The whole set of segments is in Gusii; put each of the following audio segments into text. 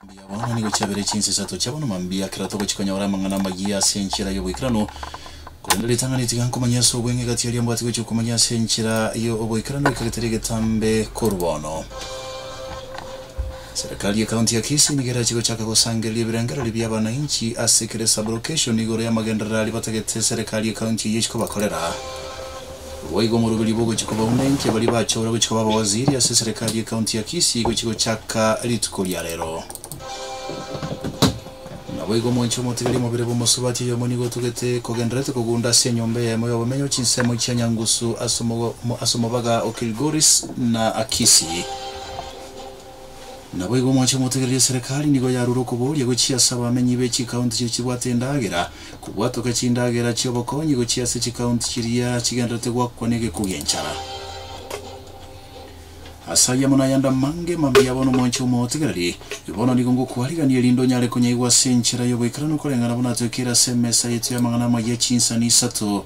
Mambia bono nigo chiabere chinsa isato chia bono mambia, kera togochi konyora amang'ana amayia ase enchera y'oboikeranu. Korende ritang'ani tiga nkomanye ase obweng'e egati eria mbwate gochia komanya ase enchera y'oboikeranu ekero tari egetambe korwa bono. Serikali ye County ya Kisii nigo erache gochaka gosangereria ebirengererio bia abanainchi ase kera esabulocation igoro y'amagenderero aria batagete serikali ye county eye gochia kobakorera. Rwo igo omoroberio bogochia kobauna inki abaria bachora gochia koba abawaziri ase serikali ye county ya Kisii gochia gochaka rituko ria rero. Naboigo omoinchi omotigari omobere bw'omosubati oyomo nigo otugete kogendererete kogunda ase enyomba eyemo y'obomenyo chinsemo chia Nyangusu ase omobaga o Kilgoris na Kisii. Naboigo mwanche motegereri eserekari nigo yarure okoboria gochia ase abamenyi be chikaunti chiria chibwate endagera, kobwatoka chindagera chia obokonyi gochia ase chikaunti chiria chigendererete goakwa negekuo gi'enchara. Ase ayamo na ayande amange mambia bono mwanche omotegereri, bono nigo ngokwarigania erinde onyare konyaigwa ase enchera y'ogoikeranu koreng'ana buna atoekeire ase emesa yaito y'amang'ana amayia chinsani isato.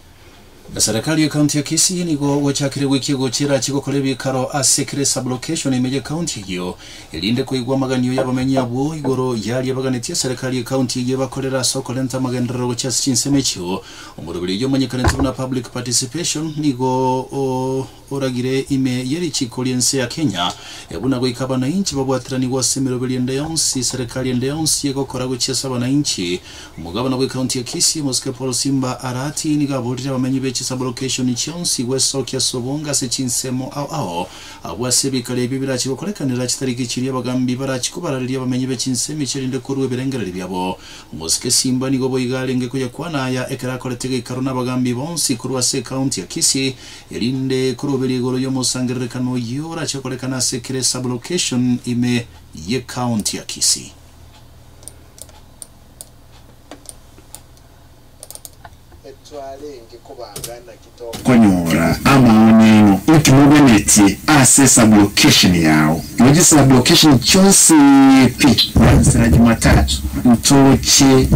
Eserekari y'Ekaunti ya Kisii nigo gwachakire goikia gochia erache gokora ebikaro ase kera esabulokeshoni ime y'Ekaunti eyio, erinde koigwa amaganio y'abamenyi abwo igoro y'aria baganetie eserekari y'Ekaunti eyio ebakorere ase okorenta amagenderero gochia ase chinsemo echio. Omoroberi oyio omanyekanete buna Public Participation nigo o. oragire ime ye richiiko ri'ense ya Kenya, buna goika abanainchi babwatiranigwe ase emeroberio ende yonsi, serekari ende yonsi egokora gochia ase abanainchi. Omogabana bw'ekaunti ya Kisii, Omosike Paul Simba Arati, nigo aborire abamenyi be chisabolokeshoni chionsi gwesokia ase obonge ase chinsemo ao ao abwo ase ebikare ebio birache gokorekanera chitariki chiria abagambi barache kobarareria abamenyi be chinsemo echi erinde korua ebirengereri biabo. Omosike Simba nigo boigo arenge koyakwana aya ekero akorete geikaro n'abagambi bonsi korwa ase ekaunti ya Kisii, erinde koroberia igoro y'omosangererekano oyio orache korekana ase kera esablocation ime y'ekaonti ya Kisii. Konyora amaoni aino inki mobenetie ase esablocation yao. Igo chisablocation chionsi pi na nsera Jumatatu ntoche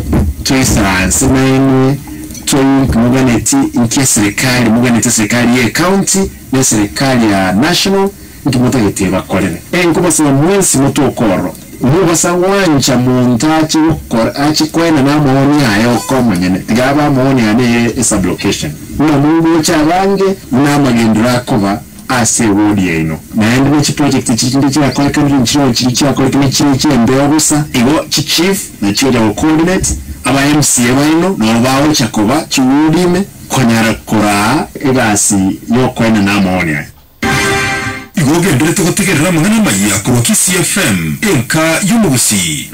toisara nse nainwe. Kioink moganeti inki eserikali moganeti eserikali ye county na eserikali ya national inki motagetie bakorere. Enkobasaba mwensi motwe okororo. Mobasaa gwancha monto ache gokora ache koena na amawoni aye oka omonyene tiga abe amawoni ane ye esublocation buna mongocha abange buna amagendero akoba. ase ewodi yaino. Naende ne chiprojekti chinde chiakoekanire nchireo chiria chiakorete ne chiria chi'embeo bosa igo, chichief na chiocha go coordinate aba mca baino nabo bagocha koba chiwodi ime konyara koraa egasi y'okoenena amawoni aya. Igo ogenderete gotegerera amang'ana amaya korwa Kisii FM, enka y'omogusii.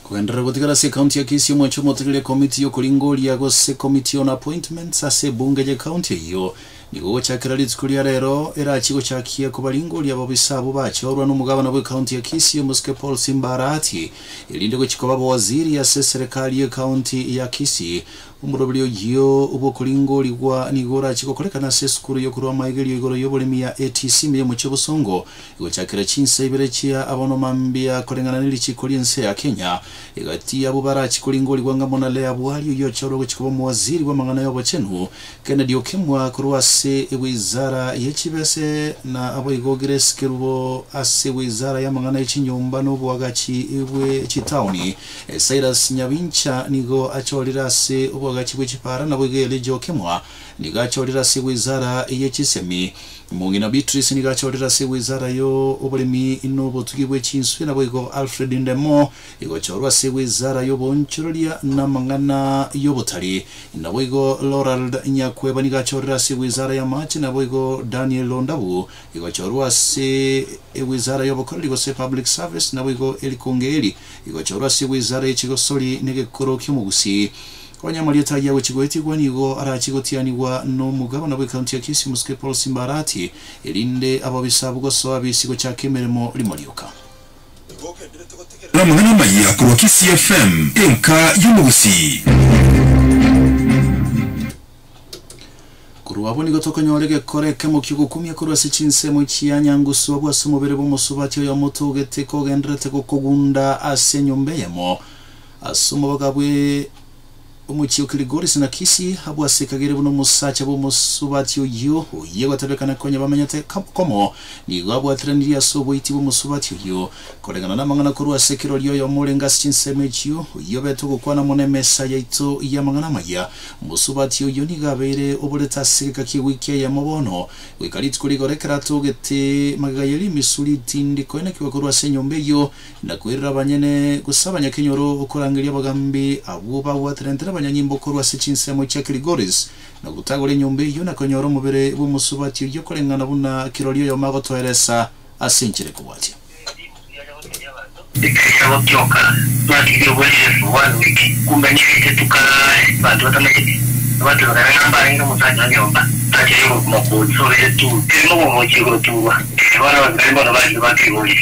Akogenderera gotigara ase Ekaunti ya Kisii omwecho omotegeria ekomiti y'okoringoria gose Committee on Appointments ase ebunge y'ekaunti eyio nigo gochakera rituko ria rero erachie gochakia kobaringoria ababisa abwo bachorwa n'omogabana bw'ekaunti ya Kisii omosike Paul Simba Arati erinde gochia koba abawaziri ase serekari y'ekaunti ya Kisii. Omoroberi oyio bw'okoringorigwa nigo orachie gokorekana ase esukuru y'okorwa amaigerio igoro y'oboremi ya ATCM y'omochie o Bosongo Gochakera chinsa ibere chia abono mambia koreng'ana ne richiiko ri'ense ya Kenya, egati y'abwo barachi koringorigwa ng'a buna Leah Buhari oyio ochorwe gochia koba omowaziri bw'amang'ana y'obochenu, Kennedy Okemwa korwa ase ewizara ye chibese na aboigo Grace Kerubo ase ewizara y'amang'ana ye chinyomba na oboagachi bwe chitaoni. Cyrus Nyabincha nigo achorire ase oboagachi bwe chipaara naboigo Elijah Okemwa nigo achorire ase ewizara ye chisemi. Omong'ina Beatrice nigo achorire ase wizara yo oboremi na obotugi bwe chinswe naboigo Alfred Ndemo igochorwa ase wizara y'oboonchoreria na amang'ana y'obotari. Naboigo Lorald Nyakweba nigo achorire ase wizara y'amache naboigo Daniel Londabu igochorwa ase ewizara y'obokoreri gose public service naboigo Eric Ongeri igochorwa ase wizara ye chigosori na egekoro ki'omogusii. Onye Amarieta ayio agochia goetigwa, nigo arachie gotianigwa n'omogabana bw'ekaunti ya Kisii Msgei Paul Simbarati, erinde ab'obisabu gosoa bisi gochaka emeremo rimo rioka. Ngogenderete gotegerera amang'ana amaya korwa Kisii FM, enka y'omogusii. Korwa abwo nigo tokonyora egekora ekemo ki'ogokumia korwa ase chinsemo chia Nyangusu abwo ase omobere bw'omosubati oyomo togeteka ogenderete gokogunda ase enyomba eyemo, As'omobaga bwe omochie o Kiligori Sinakisi abwo ase kagere buna omosacha bw'omosubati oyio, oyio egotebekana konya bamenyete komo, nigo abwateranirie as'oboiti bw'omosubati oyio, koreng'ana namang'ana korwa ase kirori oyomo orenge ase chinsemo echio, oyio obete ogokwana amo nemesa yaito y'amang'ana amaya. Omosubati oyio nigo abeire oborete ase egeka ki'ewiki eyemo bono, goika rituko rigoro ekero atogete magega y'erimisuri, tindi koenekigwa korwa ase enyomba eyio, na kwerera abanyene, gose abanyakenyoro, korangeria abagaambi abwo babwaterente nabanyanyimbo korwa ase chinsemo chia Kilgoris, na gotagora enyomba eyio, na konyora omobere bw'omosubati oyio koreng'ana buna kirori oyomo agotoeresa ase enchera ekobwatia. Ekero yagotioka, twarigirie obwene Yeso bono oike, kumbe nigaite tukaare banto batamanyeti. Abatomeka naende mbarenge omosacha o nyomba, aachire ogokumakwa ogosobeire tu, kerimo obomochie goturwa. Ee, bono abasibani bono bariire ba Kilgoris.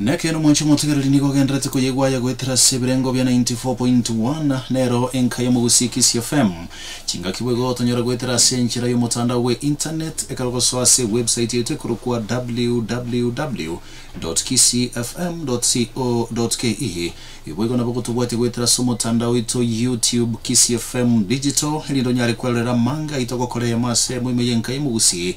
Na ekeene omochie omotegereri nigo ogenderete koyegwa aya goetera ase ebirengo bia 94.1 nero enka ya Mogusii Kisii FM. Chingaki boigo gotonyora goetera ase enchera y'omotandao bwe internet ekero gosoa ase website yaito ekorokwa www.kisiifm.co.ke. Boigo nabo gotobwatia goetera ase omotandao oito YouTube Kisii FM Digital erinde onyare kwerorera amanga aito gokora eyemo ase eyemo ime y'enka ya Mogusii.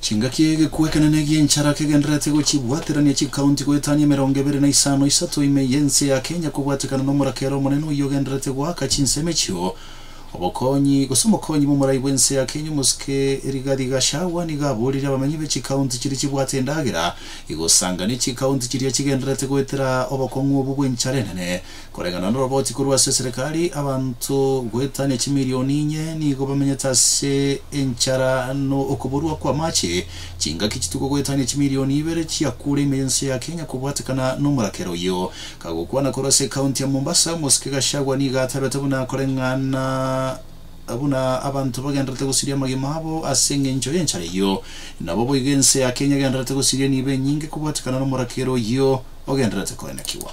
Chingaki egekwa ekenene egi'enchara kegendererete gochibwaterania chikaunti goetania emerongo ebere na isano isato ime y'ense ya Kenya kobwatekana nomoraka ere omonene oyio ogendererete goaka chinsemo echio. Obokonyi, gose omokonyi bw'omorai bw'ense ya Kenya omosike Rigathi Gachagua nigo aboririe abamenyi be chikaunti chiria chibwate endagera igosangania chikaunti chiria chigendererete goetera obokong'u obwo bw'enchara enene. Koreng'ana noroboti korwa ase eserekari, abanto goetania chimilioni inye nigo bamenyete ase enchara na okoburwa kw'amache. Chingaki chituko goetania chimilioni ibere chiakure ime y'ense ya Kenya kobwatekana nomorakera oyio. Kagokwana korwa ase ekaunti ya Mombasa, omosike Gachagua nigo atabete buna koreng'ana buna abanto bagendererete gosiria amagima abo ase eng'encho y'enchara eyio. Nabo boigo ense ya Kenya egendererete gosiria nibo enyinge kobwatekana nomorakera oyio ogendererete koenekigwa.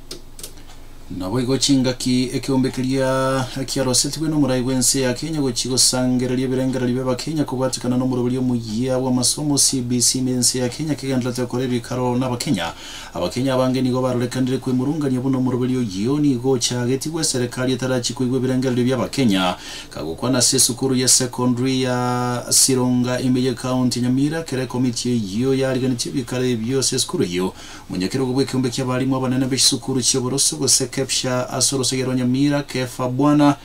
Naboigo chingaki ekeombe keria kiarosetigwe nomorai bw'ense ya Kenya gochia gosangereria ebirengererio bi'Abakenya kobwatikana nomoroberio omuya bw'amasomo CBC na ense ya Kenya kegenderete gokora ebikaro n'Abakenya. Abakenya abange nigo barorekanire kwemurungania buna omoroberio oyio nigo ochagetigwe eserekari etarachie koigwa ebirengererio bi'Abakenya, kagokwana ase esukuru ya secondary ya Sironga ime ye County ya Nyamira ekero ekomiti eyio yariganirie ebikaro ebio ase esukuru eyio. Monyakerogo bw'ekeombe ki'abalimu abanene b'echisukuru chi'oboroso, gose Kepsha ase orosagia rwa Nyamira, Kefa Bwana,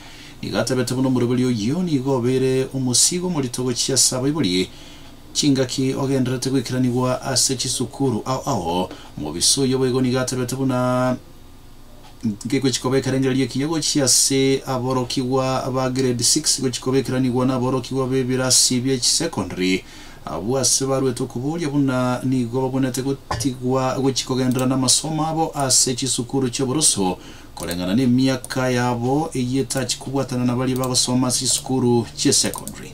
nigo atabete buna omoroberio oyio nigo obeire omosiigo omorito gochia ase abaibori. Chingaki ogendererete goikeranigwa ase chisukuru ao ao, Mobisa oyio boigo nigo atabete buna. nkegochia kobekerangereria ekinya gochia ase aborokigwa ba grade six gochia kobekeranigwa naborokigwa b'ebirasi bie chisecondary. Abwo ase baruete okobooria buna nigo babwenerete gotigwa gochia kogenderera namasomo abo ase chisukuru chi'oboroso koreng'ana nemiaka yabo eyio etachia kobwatana nabaria bagosoma ase chisukuru chi'esecondary.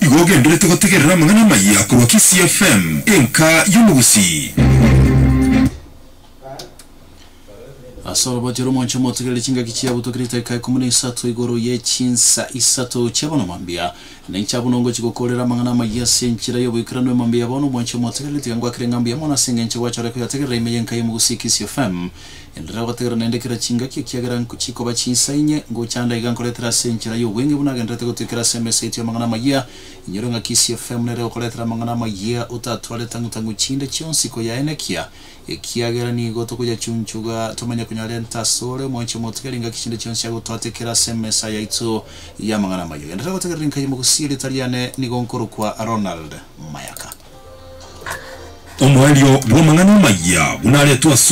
Igo ogenderete gotegerera amang'ana amaya korwa Kisii FM, enka y'omogusii. Ase orobacho romonche motegerere chingaki chiabutwa kera etariki ikomo na isato igoro ye chinsa isato chia bono mambia. Ninche abwo nongochi gokoorera amang'ana amaya ase enchera y'oboikeranu emambia ya bono omonche motegerere tiga ngwakire ng'a mbuya mono ase engencho gwachore koyategerera ime y'enka y'omogusii Kisii FM. Enderera ogotegerera naende kera chingaki, ekiagera nchikoba chinsa inye, ngochanda iga nkoretera ase enchera y'obweng'e buna agenderete gotwekera ase emesa yaito y'amang'ana amayia. Inyore ng'aki CFM nere okoretera amang'ana amayia, otatware tang'u-tang'u chinde chionsi koyaenekia, ekiagera nigo tokoyachunchuga tomanye konyarenta asore omoanchwa omotigari ngaki chinde chionsi agotwatekera ase emesa yaito y'amang'ana amayia. Ogenderere gotegerera inka y'omogusi, erieta riane nigo nkorokwa Ronald Mayaka. Omoerio bw'amang'ana amayia buna aretwe asore.